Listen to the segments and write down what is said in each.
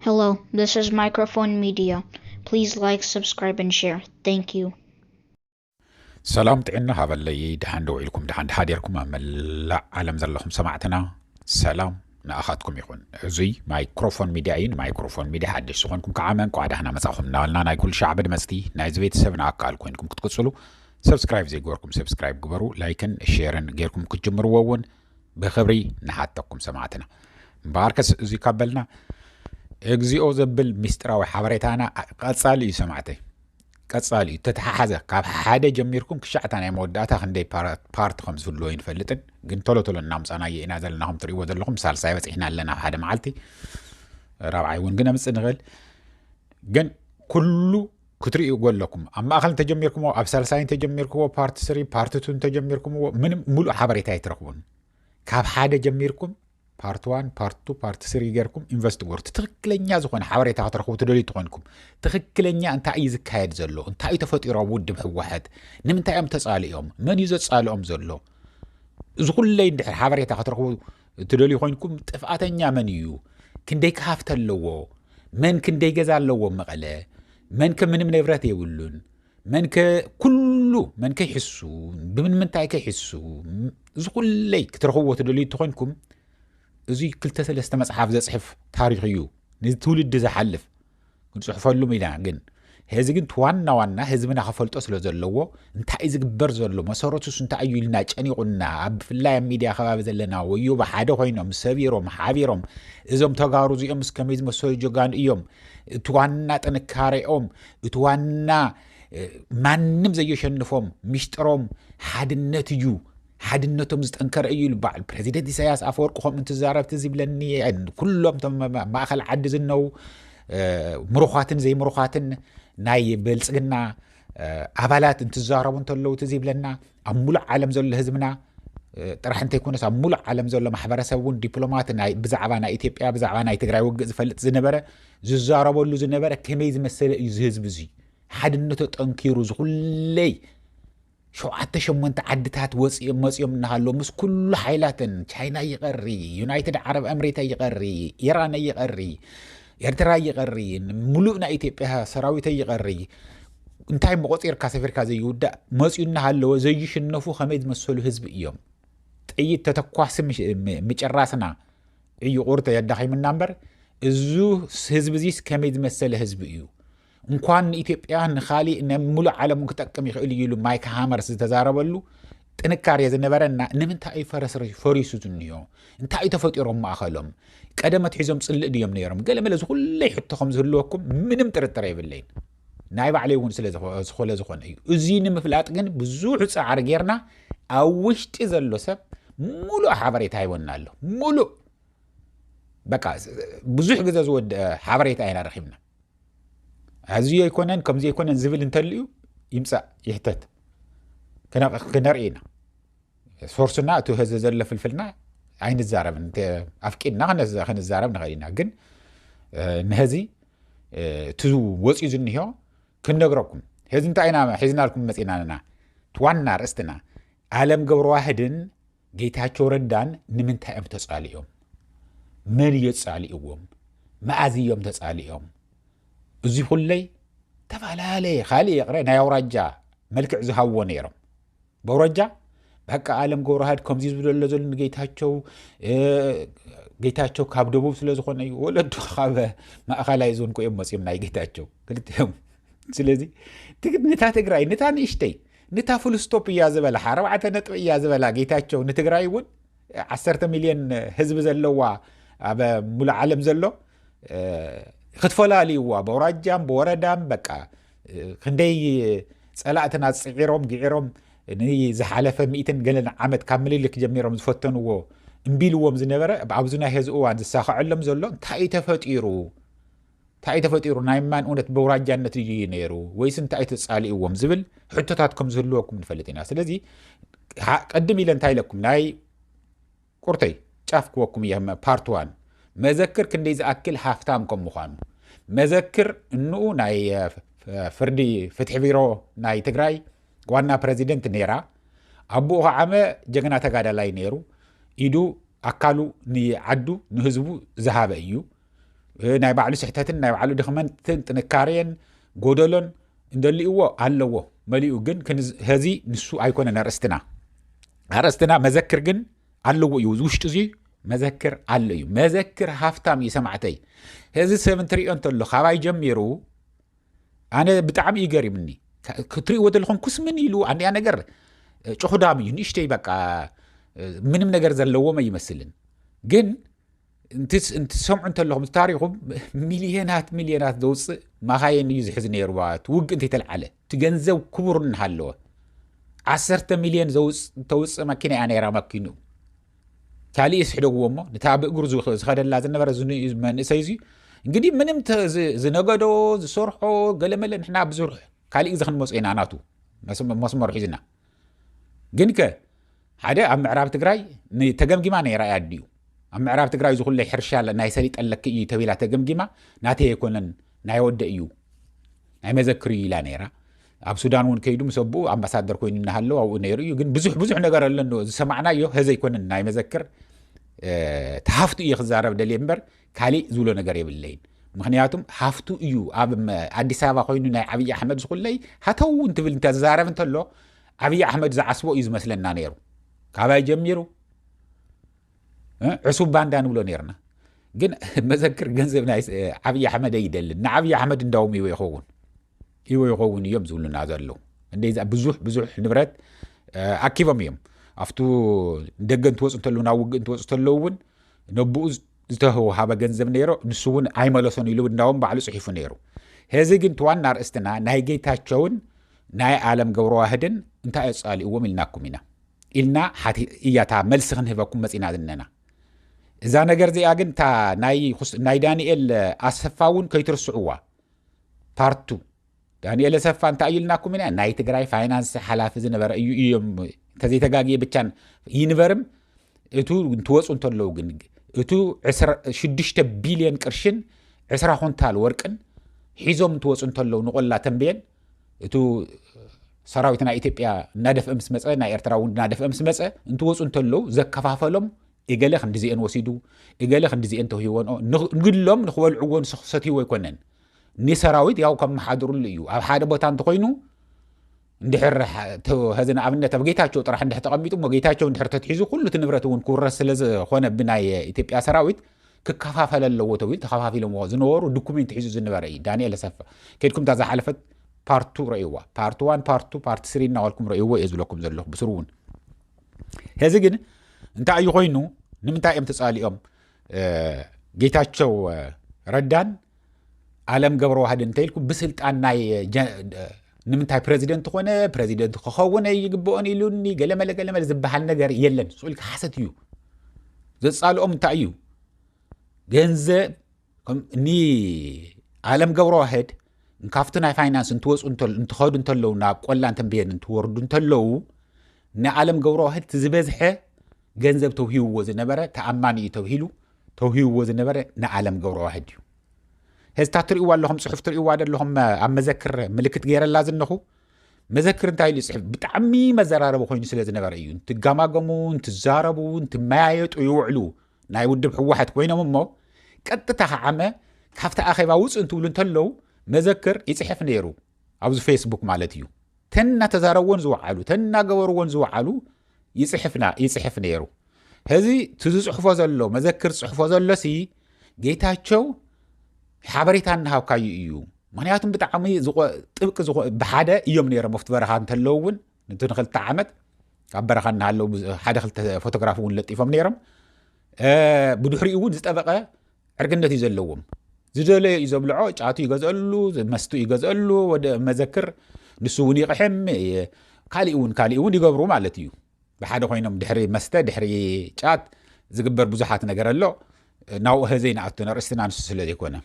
Hello, this is Microphone Media. Please like, subscribe, and share. Thank you. ሰላም ጥዕና ሃበለይ ድሓን ደው ኢልኩም ድሓን ድሓደርኩም ኣብ መላእ ዓለም ዘለኹም ሰማዕትና ሰላም ንኣኻትኩም ይኹን እዙይ ማይክሮፎን ሚድያ እዩ ንማይክሮፎን ሚድያ ሓደሽ ዝኾንኩም ከዓ መንቋ ዳህና መፃኹም እናበልና ናይ ኩሉ ሻዕ ብድመፅቲ ናይዚ ቤተሰብ ንኣካል ኮይንኩም ክትቅፅሉ ሰብስክራይብ ዘይገበርኩም ሰብስክራይብ ግበሩ ላይክን ሼርን ጌርኩም ክትጅምርዎ እውን ብክብሪ ንሓተኩም ሰማዕትና። እምበኣርከስ እዙይ ካብ በልና እግዚኦ ዘብል ምስጢራዊ ሓበሬታና ቀጻሊ እዩ ሰማዕተይ ቀጻሊ እዩ ተተሓሓዘ ካብ ሓደ ጀሚርኩም ክሻዕታ ናይ መወዳእታ ክንደይ ፓርቲ ከም ዝህልዎ ይንፈልጥን ግን ቶሎ ቶሎ እናምፃናዮ ኢና ዘለና ከም ትርእይዎ ዘለኹም ሳልሳይ በፂሕና ኣለና ሓደ መዓልቲ ራብዓይ እውን ግን ኣምፅእ ንኽእል ግን ኩሉ ክትርእዩ ጎለኩም ኣብ ማእኸል እንተጀሚርኩምዎ ኣብ ሳልሳይ እንተጀሚርኩዎ ፓርቲ ስሪ ፓርቲ ቱ እንተጀሚርኩምዎ ምንም ሙሉእ ሓበሬታ ኣይትረኽቡን ካብ ሓደ ጀሚርኩም ፓርቲ ዋን ፓርቲ ቱ ፓርቲ ስሪ ገርኩም ኢንቨስት ግበሩ እቲ ትኽክለኛ ዝኾነ ሓበሬታ ክትረኽቡ ትደልዩ ትኾንኩም ትኽክለኛ እንታይ እዩ ዝካየድ ዘሎ እንታይ እዩ ተፈጢሮ ኣብ ውድብ ህወሓት ንምንታይ እዮም ተፃሊኦም መን እዩ ዘፃልኦም ዘሎ እዚ ኩለይ እንድሕር ሓበሬታ ክትረኽቡ እትደልዩ ኮይንኩም ጥፍኣተኛ መን እዩ? ክንደይ ከሃፍተ ኣለዎ? መን ክንደይ ገዛ ኣለዎ መቐለ? መን ከ ምንም ንብረት የብሉን? መን ከ ኩሉ መን ከይሕሱ ብምንምንታይ ከይሕሱ እዚ ኩለይ ክትረኽብዎ ትደልዩ እተኮይንኩም እዚ ክልተ ሰለስተ መፅሓፍ ዘፅሕፍ ታሪክ እዩ ንትውልዲ ዝሓልፍ ክንጽሕፈሉም ኢና ግን ሄዚ ግን ዋና ዋና ህዝብና ክፈልጦ ስለ ዘለዎ እንታይ እዩ ዝግበር ዘሎ መሰረቱስ እንታይ እዩ ኢልና ጨኒቑና ኣብ ብፍላይ ኣብ ሚድያ ከባቢ ዘለና ወዮ ብሓደ ኮይኖም ሰቢሮም ሓቢሮም እዞም ተጋሩ እዚኦም ምስ ከመይ ዝመሰሉ ጀጋኑ እዮም እቲ ዋና ጥንካሬኦም እቲ ዋና ማንም ዘየሸንፎም ሚስጥሮም ሓድነት እዩ ሓድነቶም ዝጠንከረ እዩ ኢሉ በዓል ፕረዚደንት ኢሳያስ ኣፈወርቂ ከምኡ እንትዛረብ ትዝ ይብለኒ ኩሎም እቶም ኣብ ማእኸል ዓዲ ዝነው እ፣ ምሩኻትን ዘይምሩኻትን ናይ ብልፅግና እ፣ ኣባላት እንትዛረቡ እንተለዉ ትዝ ይብለና ኣብ ሙሉእ ዓለም ዘሎ ህዝብና እ፣ ጥራሕ እንተይኮነስ ኣብ ሙሉእ ዓለም ዘሎ ማሕበረሰብ እውን ዲፕሎማት ናይ ብዛዕባ ናይ ኢትዮጵያ ብዛዕባ ናይ ትግራይ ውግእ ዝፈልጥ ዝነበረ ዝዛረበሉ ዝነበረ ከመይ ዝመሰለ እዩ ዝህዝቢ እዙይ ሓድነቱ ጠንኪሩ ዝኹለይ ሸውዓተ ሸሞንተ ዓድታት ወጺኦም መጺኦም እናሃለዉ ምስ ኩሉ ሓይላተን ቻይና ይቐሪ ዩናይትድ ዓረብ ኣምሬታ ይቐሪ ኢራን ይቐሪ ኤርትራ ይቐሪ ሙሉእ ናይ ኢትዮጵያ ሰራዊት ይቐሪ እንታይ መቆፂርካ ሰፊርካ ዘይውዳእ መፅኡ እናሃለወ ዘይሽነፉ ከመይ ዝመሰሉ ህዝቢ እዮም ጥይት ተተኳሲ ምጭራስና እዩ ቁርተ የዳኺምና እምበር እዙ ህዝቢ እዚስ ከመይ ዝመሰለ ህዝቢ እዩ እንኳን ንኢትዮጵያ ንካሊእ ንሙሉእ ዓለም ክጠቅም ይኽእል እዩ ኢሉ ማይክ ሃመርስ ዝተዛረበሉ ጥንካሬ ዝነበረና ንምንታይ እዩ ፈረስ ፈሪሱ ዝንዮ እንታይ እዩ ተፈጢሮም ማእኸሎም ቀደም ኣትሒዞም ፅልእ ድዮም ነይሮም ገለ መለ ዝኩለይ ሕቶ ከም ዝህልወኩም ምንም ጥርጥር የብለይን ናይ ባዕለይ እውን ስለ ዝኾነ ዝኾነ እዩ እዚ ንምፍላጥ ግን ብዙሕ ፃዕሪ ጌርና ኣብ ውሽጢ ዘሎ ሰብ ሙሉእ ሓበሬታ ይወና ኣሎ ሙሉእ በቃ ብዙሕ ግዜ ዝወድአ ሓበሬታ ኢና ረኪብና ኣዝዩ ኣይኮነን ከም ዘይኮነን ዝብል እንተልዩ ይምፃእ ይሕተት ክነርኢ ኢና ሶርስና እቲ ህዚ ዘሎ ፍልፍልና ኣይንዛረብን ኣፍቂድና ክንዛረብ ንኽእል ኢና ግን ንህዚ እቲ ወፅኡ ዝኒሆ ክንነግረኩም ህዚ እንታይ ኢና ሒዝናልኩም መፂናና ዋና ርእስትና ኣለም ገብረዋህድን ጌታቸው ረዳን ንምንታይ እዮም ተፃሊኦም? መን እዮ ፃሊእዎም? መኣዝ እዮም ተፃሊኦም? እዙይ ኩለይ ተፈላለየ ካልእ የቕረ ናይ ኣውራጃ መልክዕ ዝሃብዎ ነይሮም በውራጃ በቃ ኣለም ገብረሃድ ከምዚ ዝብሎ ኣሎ ዘሎ ንጌታቸው ጌታቸው ካብ ደቡብ ስለ ዝኾነ እዩ ወለዱ ካብ ማእኸላይ ዞን ኮ እዮም መፅም ናይ ጌታቸው ክልቲኦም ስለዚ ንታ ትግራይ ንታ ንእሽተይ ንታ ፍሉስቶፕ እያ ዝበላ ኣርባዕተ ነጥቢ እያ ዝበላ ጌታቸው ንትግራይ እውን ዓሰርተ ሚልዮን ህዝቢ ዘለዋ ኣብ ሙሉእ ዓለም ዘሎ ክትፈላልይዋ ብኣውራጃም ብወረዳም በቃ ክንደይ ፀላእትና ፅዒሮም ግዒሮም ንዝሓለፈ ሚእትን ገለን ዓመት ካብ ምልልክ ጀሚሮም ዝፈተንዎ እምቢልዎም ዝነበረ ኣብዚ ናይ ሄዚ እዋን ዝሳኸዐሎም ዘሎ እንታይ ተፈጢሩ ታይ ተፈጢሩ ናይ ማን እውነት በውራጃነት እዩ ነይሩ ወይስ እንታይ ተፃሊእዎም ዝብል ሕቶታት ከም ዝህልወኩም ንፈልጥ ኢና ስለዚ ቀድም ኢለ እንታይ ኢለኩም ናይ ቁርተይ ጫፍ ክወኩም እየ ፓርት ዋን መዘክር ክንደይ ዝኣክል ሃፍታም ከም ምዃኑ መዘክር እንኡ ናይ ፍርዲ ፍትሒ ቢሮ ናይ ትግራይ ዋና ፕረዚደንት ነይራ ኣቦኡ ከዓመ ጀግና ተጋዳላይ ነይሩ ኢዱ ኣካሉ ንዓዱ ንህዝቡ ዝሃበ እዩ ናይ ባዕሉ ስሕተትን ናይ ባዕሉ ድኽመትን ጥንካሬን ጎደሎን እንደልእዎ ኣለዎ መሊኡ ግን ሀዚ ንሱ ኣይኮነን ኣርእስትና ኣርእስትና መዘክር ግን ኣለዎ እዩ ውሽጡ እዚ መዘክር ኣሎ እዩ መዘክር ሃፍታም እዩ ሰማዕተይ እዚ ሰብ እንትሪኦ እንተሎ ካባይ ጀሚሩ ኣነ ብጣዕሚ እዩ ገሪምኒ ክትሪእዎ ዘለኹም ኩስምን ኢሉ ኣንያ ነገር ጭኹዳም እዩ ንእሽተይ በቃ ምንም ነገር ዘለዎም ኣይመስልን ግን እንትሰምዑ እንተለኹም ታሪኹም ሚልዮናት ሚልዮናት ዘውፅእ ማኻየን እዩ ዝሕዝ ነይሩ እቲ ውግእ እንተይተልዓለ እቲ ገንዘብ ክቡር እናሃለወ ዓሰርተ ሚልዮን ተውፅእ መኪና እያ ነይራ መኪኑ ካልእ ስሕደግዎ እሞ ነታ ብእግሩ ዝኸደላ ዝነበረ መንእሰይ እዙ እንግዲህ ምንም ዝነገዶ ዝሰርሖ ገለመለ ንሕና ብዙርሕ ካልእ ግዜ ክንመፁ ኢና ናቱ መስመር ሒዝና ግን ከ ሓደ ኣብ ምዕራብ ትግራይ ተገምጊማ ነይራ እያ ኣዲኡ ኣብ ምዕራብ ትግራይ ዝኩለ ሕርሻ ናይ ሰሊጥ ኣለኪ እዩ ተቢላ ተገምጊማ ናተይ ኣይኮነን ናይ ወደ እዩ ናይ መዘክር እዩ ኢላ ነይራ ኣብ ሱዳን እውን ከይዱ ምስ ኣቦኡ ኣምባሳደር ኮይኑ እናሃለዉ ኣብኡ ነይሩ እዩ ግን ብዙሕ ብዙሕ ነገር ኣለንዎ ዝሰማዕናዮ ሀዘ ኣይኮነን ናይ መዘክር ተሃፍቱ እየ ክዛረብ ደልየ እምበር ካሊእ ዝብሎ ነገር የብለይን ምክንያቱም ሃፍቱ እዩ ኣብ ኣዲስ ኣበባ ኮይኑ ናይ ዓብዪ ኣሕመድ ዝኩለይ ሃተው እንትብል እንተዛረብ እንተሎ ዓብዪ ኣሕመድ ዝዓስቦ እዩ ዝመስለና ነይሩ ካባይ ጀሚሩ ዕሱብ ባንዳ ንብሎ ነርና ግን መዘክር ገንዘብ ናይ ዓብዪ ኣሕመድ ኣይደልን ንዓብዪ ኣሕመድ እንዳውም ይወ ይኸውን ይወ ይኸውን እዮም ዝብሉና ዘለዉ እንደዛ ብዙሕ ብዙሕ ንብረት ኣኪቦም እዮም ኣብቱ ደገ እንትወፁ እንተለዉ ናብ ውግእ እንትወፁ እንተለዉ እውን ነብኡ ዝተውሃበ ገንዘብ ነይሮ ንሱ እውን ኣይመለሶን ኢሉ እንዳውም ባዕሉ ጽሒፉ ነይሩ። ሄዚ ግን እቲ ዋና ኣርእስትና ናይ ጌታቸውን ናይ ኣለም ገብረዋህድን እንታይ ኣጻሊእዎም ኢልናኩም ኢና ኢልና እያ እታ መልሲ ክንህበኩም መጺና ዝነና እዛ ነገር እዚኣ ግን እታ ናይ ዳንኤል ኣሰፋ እውን ከይትርስዕዋ ፓርቱ ዳኒኤል ኣሰፋ እንታይ ኢልናኩም ኢና ናይ ትግራይ ፋይናንስ ሓላፊ ዝነበረ እዩ እዮም እንተዘይተጋግየ ብቻን ይንበርም እቱ እንትወፁ እንተለዉ ግን እቱ 6 ቢልዮን ቅርሽን ዕስራ ኩንታል ወርቅን ሒዞም እንትወፁ እንተለዉ ንቆላ ተንብየን እቱ ሰራዊት ናይ ኢትዮጵያ እናደፍአ ምስ መፀ ናይ ኤርትራ እውን እናደፍአ ምስ መፀ እንትወፁ እንተለዉ ዘከፋፈሎም እገለ ክንዲዚኤን ወሲዱ እገለ ክንዲዚኤን ተውሂወንኦ ንግሎም ንክበልዕዎን ሰትይዎ ኣይኮነን ኒሰራዊት ያው ከመሓድርሉ እዩ ኣብ ሓደ ቦታ እንተኮይኑ እንድሕር ሀዚ ንኣብነት ኣብ ጌታቸው ጥራሕ እንድሕ ተቐሚጡ እሞ ጌታቸው እንድሕር ተትሒዙ ኩሉ እቲ ንብረት እውን ክውረስ ስለ ዝኾነ ብናይ ኢትዮጵያ ሰራዊት ክከፋፈለ ኣለዎ ተብሉ ተኸፋፊሎምዎ ዝነበሩ ዶኩሜንት ሒዙ ዝነበረ እዩ ዳንኤል ኣሰፋ ከድኩም እታ ዝሓለፈት ፓርቱ ረእይዋ ፓርቲ ዋን ፓርቱ ፓርቲ ስሪ እናበልኩም ረእይዎ እየ ዝብለኩም ዘለኹ ብስሩ እውን ሕዚ ግን እንታይ እዩ ኮይኑ ንምንታይ እዮም ተፃሊኦም ጌታቸው ረዳን ኣለም ገብረ ዋህድ እንተኢልኩ ብስልጣን ናይ ንምንታይ ፕረዚደንት ኮነ ፕረዚደንት ክኸውን ይግብኦን ኢሉኒ ገለመለ ገለመለ ዝበሃል ነገር የለን ስኡልካ ሓሰት እዩ ዘፃልኦም እንታይ እዩ ገንዘብ ንኣለም ገብረ ዋህድ ካብቲ ናይ ፋይናንስ እንትወፁ እንትኸዱ እንተለዉ ናብ ቆላን ተንብየን እንትወርዱ እንተለዉ ንኣለም ገብረዋህድ እቲ ዝበዝሐ ገንዘብ ተውሂብዎ ዝነበረ ተኣማኒ እዩ ተብሂሉ ተውሂብዎ ዝነበረ ንኣለም ገብረዋህድ እዩ ህዝታ ትርእይዋ ኣለኹም ፅሑፍ ትርእይዋ ዘለኹም ኣብ መዘክር ምልክት ገይረላ ዝነኹ መዘክር እንታይ ኢሉ ይፅሕፍ ብጣዕሚ መዘራረቢ ኮይኑ ስለ ዝነበረ እዩ እንትጋማገሙ እንትዛረቡ እንትመያየጡ ይውዕሉ ናይ ውድብ ህወሓት ኮይኖም እሞ ቀጥታ ከዓመ ካብቲ ኣኼባ ውፅ እንትብሉ እንተለው መዘክር ይፅሕፍ ነይሩ ኣብዚ ፌስቡክ ማለት እዩ ተን እናተዛረብዎን ዝወዓሉ ተን እናገበርዎን ዝወዓሉ ይፅሕፍና ይፅሕፍ ነይሩ ህዚ እቲ ዝፅሕፎ ዘሎ መዘክር ዝፅሕፎ ዘሎሲ ጌታቸው ሓበሬታ እናሃብካዩ እዩ ምክንያቱም ብጣዕሚ ጥብቂ ብሓደ እዮም ነይሮም ኣብቲ በረኻ እንተለዉ እውን ንቲ ንክልተ ዓመት ካብ በረኻ እናሃለዉ ሓደ ክልተ ፎቶግራፍ እውን ለጢፎም ነይሮም ብድሕሪኡ እውን ዝጠበቐ ዕርግነት እዩ ዘለዎም ዝደለዮ እዩ ዘብልዖ ጫቱ ይገዝአሉ መስቱ ይገዝአሉ ወደ መዘክር ንሱ እውን ይቕሕም ካሊእ እውን ካሊእ እውን ይገብሩ ማለት እዩ ብሓደ ኮይኖም ድሕሪ መስተ ድሕሪ ጫት ዝግበር ብዙሓት ነገር ኣሎ ናብኡ ህዘይ ንኣቶ ንርእስትና ንሱ ስለ ዘይኮነ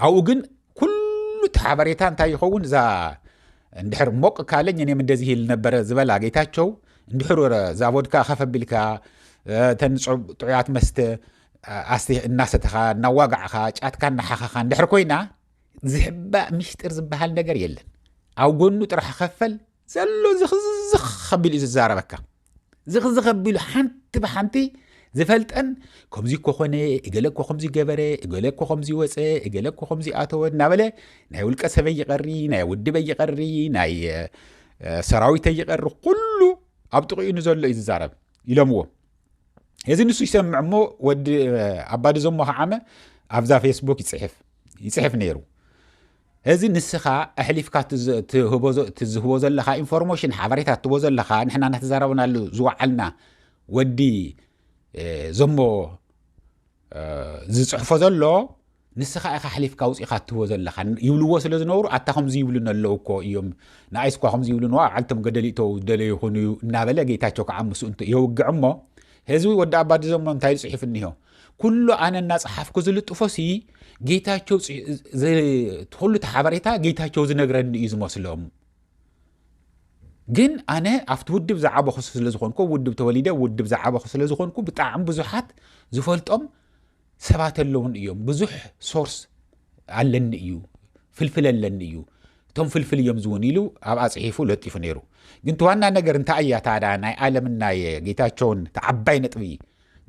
ኣብኡ ግን ኩሉ እቲ ሓበሬታ እንታይ ይኸውን እዛ እንድሕር ሞቅ ካለኝ እኔም እንደዚህ ይል ነበረ ዝበላ ጌታቸው እንድሕር እዛ ቮድካ ከፍ ኣቢልካ እተን ጥዑያት መስተ ኣስተ እናሰተኻ እናዋጋዕኻ ጫትካ እናሓኸኻ እንድሕር ኮይና ዝሕባእ ሚስጢር ዝበሃል ነገር የለን ኣብ ጎኑ ጥራሕ ከፈል ዘሎ ዝኽዝኽ ከቢሉ እዩ ዝዛረበካ ዝኽዝኽ ኣቢሉ ሓንቲ ብሓንቲ ዝፈልጠን ከምዚ እኮ ኮነ እገለ እኮ ከምዚ ገበረ እገለ እኮ ከምዚ ወፀ እገለ እኮ ከምዚ ኣተወ እናበለ ናይ ውልቀ ሰበይ ይቐሪ ናይ ውድበይ ይቐሪ ናይ ሰራዊተይ ይቐሪ ኩሉ ኣብ ጥቕኡ ንዘሎ እዩ ዝዛረብ ኢሎምዎ እዚ ንሱ ይሰምዕ እሞ ወዲ ኣባዲ ዘሞ ከዓመ ኣብዛ ፌስቡክ ይፅሕፍ ይፅሕፍ ነይሩ እዚ ንስኻ ኣሕሊፍካ እቲ ዝህቦ ዘለኻ ኢንፎርሞሽን ሓበሬታ እትቦ ዘለኻ ንሕና እናተዛረብናሉ ዝወዓልና ወዲ ዘሞ ዝፅሕፎ ዘሎ ንስኻ ኢኻ ኣሕሊፍካ ውፅኢኻ እትህቦ ዘለኻ ይብልዎ ስለ ዝነብሩ ኣታ ከምዚ ይብሉን ኣለዉ እኮ እዮም ንኣይስ እኳ ከምዚ ይብሉን ኣብ ዓልቶም ገደል ይእተው ደለዩ ይኹኑ እዩ እናበለ ጌታቸው ከዓ ምስ የውግዕ እሞ ህዝቢ ወዲ ኣባዲ ዘሞ እንታይ ጽሒፍ እኒሆ ኩሉ ኣነ እናፀሓፍኩ ዝልጥፎ ሲ ጌታቸው ሁሉ ተሓበሬታ ጌታቸው ዝነግረኒ እዩ ዝመስሎም ግን ኣነ ኣብቲ ውድብ ዝዓበኹ ስለዝኾንኩ ውድብ ተወሊደ ውድብ ዝዓበኹ ስለዝኾንኩ ብጣዕሚ ብዙሓት ዝፈልጦም ሰባት ኣለውን እዮም ብዙሕ ሶርስ ኣለኒ እዩ ፍልፍል ኣለኒ እዩ እቶም ፍልፍል እዮም ዝውን ኢሉ ኣብ ኣፅሒፉ ለጢፉ ነይሩ ግን ተዋና ነገር እንታይ እያ ታዳ ናይ ኣለምና ጌታቸውን ተዓባይ ነጥቢ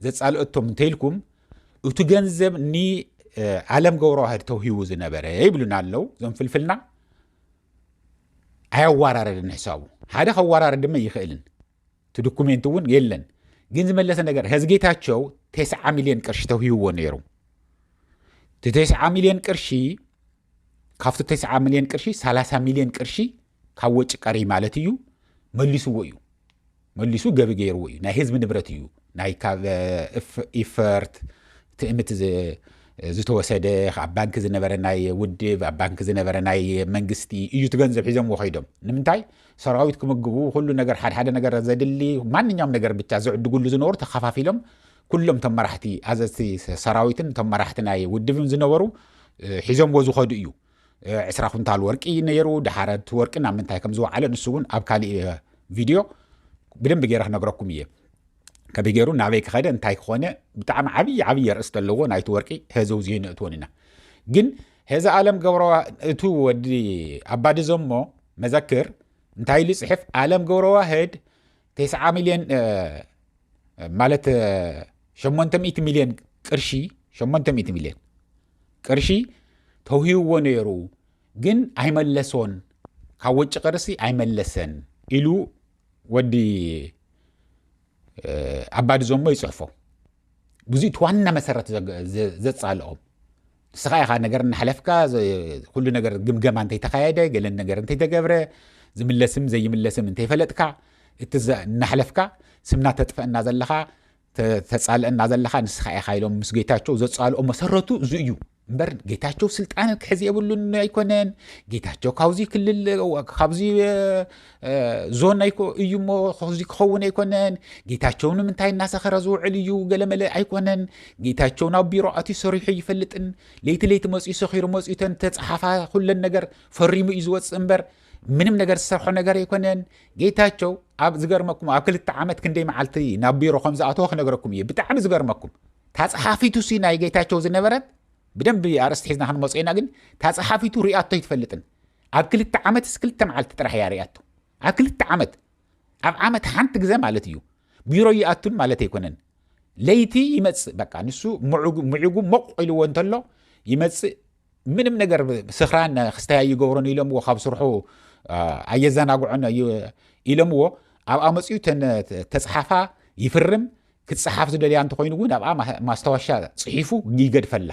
ዘጻልኦቶም እንተይልኩም እቲ ገንዘብ ንዓለም ገብረዋህድ ተውሂቡ ዝነበረ ይብሉና ኣለው ዞም ፍልፍልና ኣያዋራረድን ሕሳቡ ሓደ ከዋራረድ ድማ ይኽእልን እቲ ዶኩሜንት እውን የለን ግን ዝመለሰ ነገር ህዝ ጌታቸው ቴስዓ ሚሊዮን ቅርሺ ተውሂብዎ ነይሩ እቲ ቴስዓ ሚሊዮን ቅርሺ ካብቲ ቴስዓ ሚሊዮን ቅርሺ 30 ሚሊዮን ቅርሺ ካብ ወጪ ቀሪ ማለት እዩ መሊስዎ እዩ መሊሱ ገቢ ገይርዎ እዩ ናይ ህዝቢ ንብረት እዩ ናይ ካብ ኢፈርት ትእምት ዝተወሰደ ኣብ ባንኪ ዝነበረ ናይ ውድብ ኣብ ባንኪ ዝነበረ ናይ መንግስቲ እዩ እቲ ገንዘብ ሒዘምዎ ከይዶም ንምንታይ ሰራዊት ክምግቡ ኩሉ ነገር ሓደሓደ ነገር ዘድሊ ማንኛውም ነገር ብቻ ዝዕድጉሉ ዝነበሩ ተኸፋፊሎም ኩሎም ቶም መራሕቲ ኣዘዝቲ ሰራዊትን ቶም መራሕቲ ናይ ውድብን ዝነበሩ ሒዘምዎ ዝኸዱ እዩ ዕስራ ኩንታል ወርቂ ነይሩ ድሓረ እቲ ወርቂ ናብ ምንታይ ከም ዝወዓለ ንሱ እውን ኣብ ካሊእ ቪድዮ ብደንቢ ገይረ ክነግረኩም እየ ከመይ ገይሩ ናበይ ክኸደ እንታይ ክኾነ ብጣዕሚ ዓብዪ ዓብዪ ርእስቲ ኣለዎ ናይቲ ወርቂ ሄዚ ውዚ ንእትወን ኢና ግን ሄዚ ኣለም ገብረ እቱ ወዲ ኣባዲ ዘሞ መዘክር እንታይ ኢሉ ፅሕፍ ኣለም ገብረ ዋህድ ቴስዓ ሚልዮን ማለት ሸሞንተ ሚእቲ ሚልዮን ቅርሺ ሸሞንተ ሚእቲ ሚልዮን ቅርሺ ተውሂብዎ ነይሩ ግን ኣይመለሶን ካብ ወጪ ቅርሲ ኣይመለሰን ኢሉ ወዲ ኣባዲ ዞሞ ይፅሕፎ ብዙ እቲ ዋና መሰረት ዘፃልኦም ንስኻ ኢኻ ነገር እናሓለፍካ ኩሉ ነገር ግምገማ እንተይተካየደ ገለ ነገር እንተይተገብረ ዝምለስም ዘይምለስም እንተይፈለጥካ እቲ እናሓለፍካ ስምና ተጥፈአና ዘለኻ ተፃልእና ዘለኻ ንስኻ ኢኻ ኢሎም ምስ ጌታቸው ዘፃልኦ መሰረቱ እዚ እዩ እምበር ጌታቸው ስልጣን ክሕዝ የብሉን ኣይኮነን ጌታቸው ካብዚ ክልል ካብዚ ዞን ኣይኮ እዩ እሞ እዚ ክኸውን ኣይኮነን ጌታቸው ንምንታይ እናሰኸረ ዝውዕል እዩ ገለመለ ኣይኮነን ጌታቸው ናብ ቢሮ ኣትዩ ሰሪሑ ይፈልጥን ለይቲ ለይቲ መፅኡ ሰኺሩ መፅኡ ተን ተፀሓፋ ኩለን ነገር ፈሪሙ እዩ ዝወፅእ እምበር ምንም ነገር ዝሰርሖ ነገር ኣይኮነን ጌታቸው ኣብ ዝገርመኩም ኣብ ክልተ ዓመት ክንደይ መዓልቲ ናብ ቢሮ ከም ዝኣተወ ክነገረኩም እዩ ብጣዕሚ ዝገርመኩም ታፀሓፊቱ ሲ ናይ ጌታቸው ዝነበረት ብደንብ ኣርእስቲ ሒዝና ክንመፁ ኢና ግን ታፀሓፊቱ ሪኣቶ ይትፈልጥን ኣብ ክልተ ዓመት ስ ክልተ መዓልቲ ጥራሕ እያ ሪኣቶ ኣብ ክልተ ዓመት ኣብ ዓመት ሓንቲ ግዘ ማለት እዩ ቢሮ ይኣቱን ማለት ኣይኮነን ለይቲ ይመፅእ በቃ ንሱ ምዕጉ ሞቕ ኢልዎ እንተሎ ይመፅእ ምንም ነገር ስኽራን ክስታይ ኣይገብሮን ኢሎምዎ ካብ ስርሑ ኣየዘናግዖን ኢሎምዎ ኣብኣ መፅኡ ተፅሓፋ ይፍርም ክፀሓፍ ዝደልያ እንተኮይኑ እውን ኣብኣ ማስታወሻ ፅሒፉ ይገድፈላ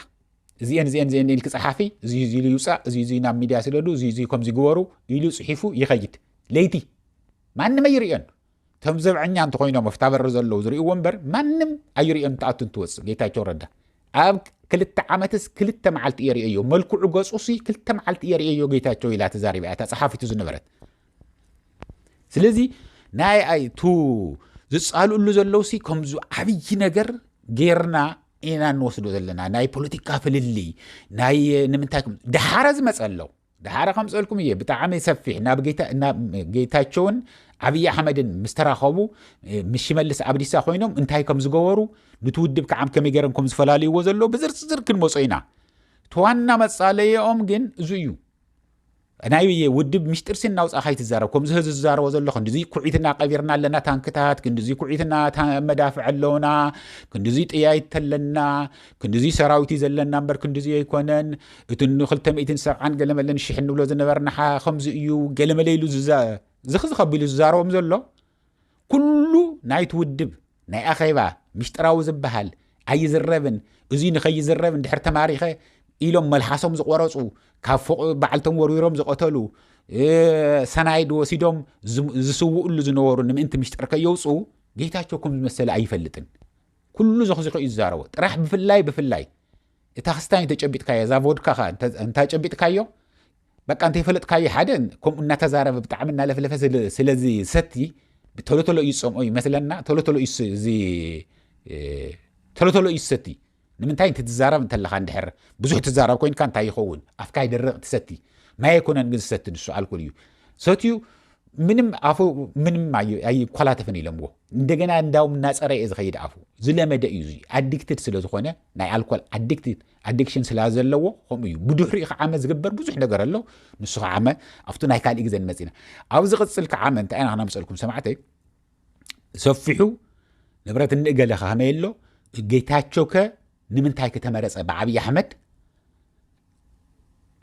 እዚአን እዚአን እዚአን ኢልክ ፀሓፊ እዚ እዚ ኢሉ ይውፃእ እዚ እዚ ናብ ሚድያ ስደዱ እዚ እዚ ከምዚ ግበሩ ኢሉ ፅሒፉ ይኸይድ ለይቲ ማንም ኣይርእዮን ከም ዘብዐኛ እንተኮይኖም ኣብታ በሪ ዘለዉ ዝርእዎ እምበር ማንም ኣይርእዮም ትኣቱ እንትወፅእ ጌታቸው ረዳ ኣብ ክልተ ዓመትስ ክልተ መዓልቲ እየ ርእዮ መልክዑ ገፁሲ ክልተ መዓልቲ እየ ርእዮ ጌታቸው ኢላ ተዛሪባ እያ እታ ፀሓፊቱ ዝነበረት ስለዚ ናይ ኣይቱ ዝፃልእሉ ዘለውሲ ከምዚ ዓብዪ ነገር ጌርና ኢና እንወስዶ ዘለና ናይ ፖለቲካ ፍልልይ ናይ ንምንታይ ድሓረ ዝመፀ ኣለዉ ድሓረ ከምፀልኩም እየ ብጣዕሚ ሰፊሕ ናብ ጌታቸውን ዓብዪ ኣሕመድን ምስ ተራኸቡ ምስ ሽመልስ ኣብዲሳ ኮይኖም እንታይ ከም ዝገበሩ ንቲ ውድብ ከዓም ከመይ ገይሮም ከም ዝፈላልይዎ ዘለዎ ብዝርዝር ክንመፆ ኢና ተዋና መፃለየኦም ግን እዙ እዩ ናይ ውድብ ምሽጢር ሲን ናውፃ ካይትዛረብ ከምዚ ህዚ ዝዛረቦ ዘሎ ክንዲዙ ኩዒትና ቀቢርና ኣለና ታንክታት ክንዲዙ ኩዒትና መዳፍዕ ኣለውና ክንዲዙ ጥያይት ኣለና ክንድዙይ ሰራዊት እዩ ዘለና እምበር ክንድዙይ ኣይኮነን እቲ ንክልተ ሚእትን ሰብዓን ገለመለን ሽሕ እንብሎ ዝነበርናሓ ከምዚ እዩ ገለመለ ኢሉ ዝኽዚ ከቢሉ ዝዛረቦም ዘሎ ኩሉ ናይቲ ውድብ ናይ ኣኼባ ምሽጥራዊ ዝበሃል ኣይዝረብን እዙይ ንኸይዝረብ እንድሕር ተማሪኸ ኢሎም መልሓሶም ዝቆረፁ ካብ ፎቅ በዓልቶም ወርዊሮም ዝቐተሉ ሰናይድ ወሲዶም ዝስውእሉ ዝነበሩ ንምእንቲ ምሽጥር ከየውፅኡ ጌታቸው ከም ዝመሰለ ኣይፈልጥን ኩሉ ዘኽዚኹ እዩ ዝዛረቦ ጥራሕ ብፍላይ ብፍላይ እታ ክስታይ እንተጨቢጥካዮ እዛ ቮድካ ከ እንታጨቢጥካዮ በቃ እንተይፈለጥካዮ ሓደ ከምኡ እናተዛረበ ብጣዕሚ እናለፍለፈ ስለዚ ሰቲ ቶሎ ቶሎ እዩ ዝፀምኦ ይመስለና ቶሎ ቶሎ እዩ እዚ ቶሎ ቶሎ እዩ ዝሰቲ ንምንታይ እንቲ ትዛረብ እንተለካ እንድሕር ብዙሕ ትዛረብ ኮይንካ እንታይ ይኸውን ኣፍካ ይደርቕ ትሰቲ ማይ ኣይኮነን ግን ዝሰቲ ንሱ ኣልኮል እዩ ሰትዩ ምንም ኣፉ ምንም ኣይኮላተፍን ኢሎምዎ እንደገና እንዳውም እናፀረ እየ ዝኸይድ ኣፉ ዝለመደ እዩ እዚ ኣዲክትድ ስለ ዝኾነ ናይ ኣልኮል ኣዲክሽን ስላ ዘለዎ ከምኡ እዩ ብድሕሪኡ ከዓመ ዝግበር ብዙሕ ነገር ኣሎ ንሱ ከዓመ ኣብቲ ናይ ካልእ ግዜ ንመፅ ኢና ኣብ ዝቕፅል ከዓመ እንታይ ኢና ክነምፀልኩም ሰማዕተይ ሰፊሑ ንብረት እንእገለ ከመይ ኣሎ ጌታቸው ከ ንምንታይ ከ ተመረፀ ብዓብዪ ኣሕመድ?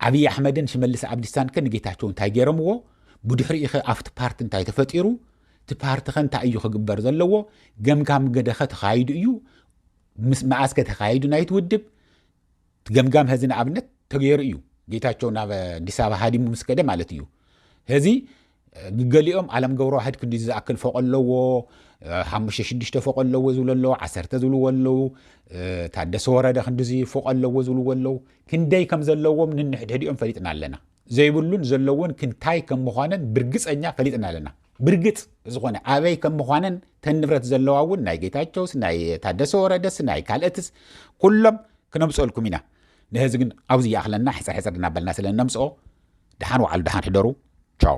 ዓብዪ ኣሕመድን ሽመልስ ኣብዲሳን ከ ንጌታቸው እንታይ ገይሮምዎ? ብድሕሪኡ ኸ ኣብቲ ፓርቲ እንታይ ተፈጢሩ? እቲ ፓርቲ ኸ እንታይ እዩ ክግበር ዘለዎ? ገምጋም ገደ ኸ ተኻይዱ እዩ? ምስ መዓስ ከ ተኻይዱ ናይቲ ውድብ? ገምጋም ሀዚ ንኣብነት ተገይሩ እዩ ጌታቸው ናብ ኣዲስ ኣበባ ሃዲሙ ምስ ከደ ማለት እዩ ሀዚ ግገሊኦም ዓለም ገብረዋሕድ ክንዲ ዝኣክል ፎቕ ኣለዎ ሓሙሽተ ሽዱሽተ ፎቕ ኣለዎ ዝብሉ ኣለዉ ዓሰርተ ዝብልዎ ኣለዉ ታደሰ ወረደ ክንዲዚ ፎቕ ኣለዎ ዝብልዎ ኣለዉ ክንደይ ከም ዘለዎም ንንሕድሕዲኦም ፈሊጥና ኣለና ዘይብሉን ዘለውን ክንታይ ከም ምዃነን ብርግፀኛ ፈሊጥና ኣለና ብርግፅ ዝኾነ ኣበይ ከም ምዃነን ተን ንብረት ዘለዋ እውን ናይ ጌታቸውስ ናይ ታደሰ ወረደስ ናይ ካልእትስ ኩሎም ክነምፀልኩም ኢና ንሕዚ ግን ኣብዚ ይኣኽለና ሕጽር ሕጽር እናበልና ስለ እነምጽኦ ድሓን ወዓሉ ድሓን ሕደሩ ቻው።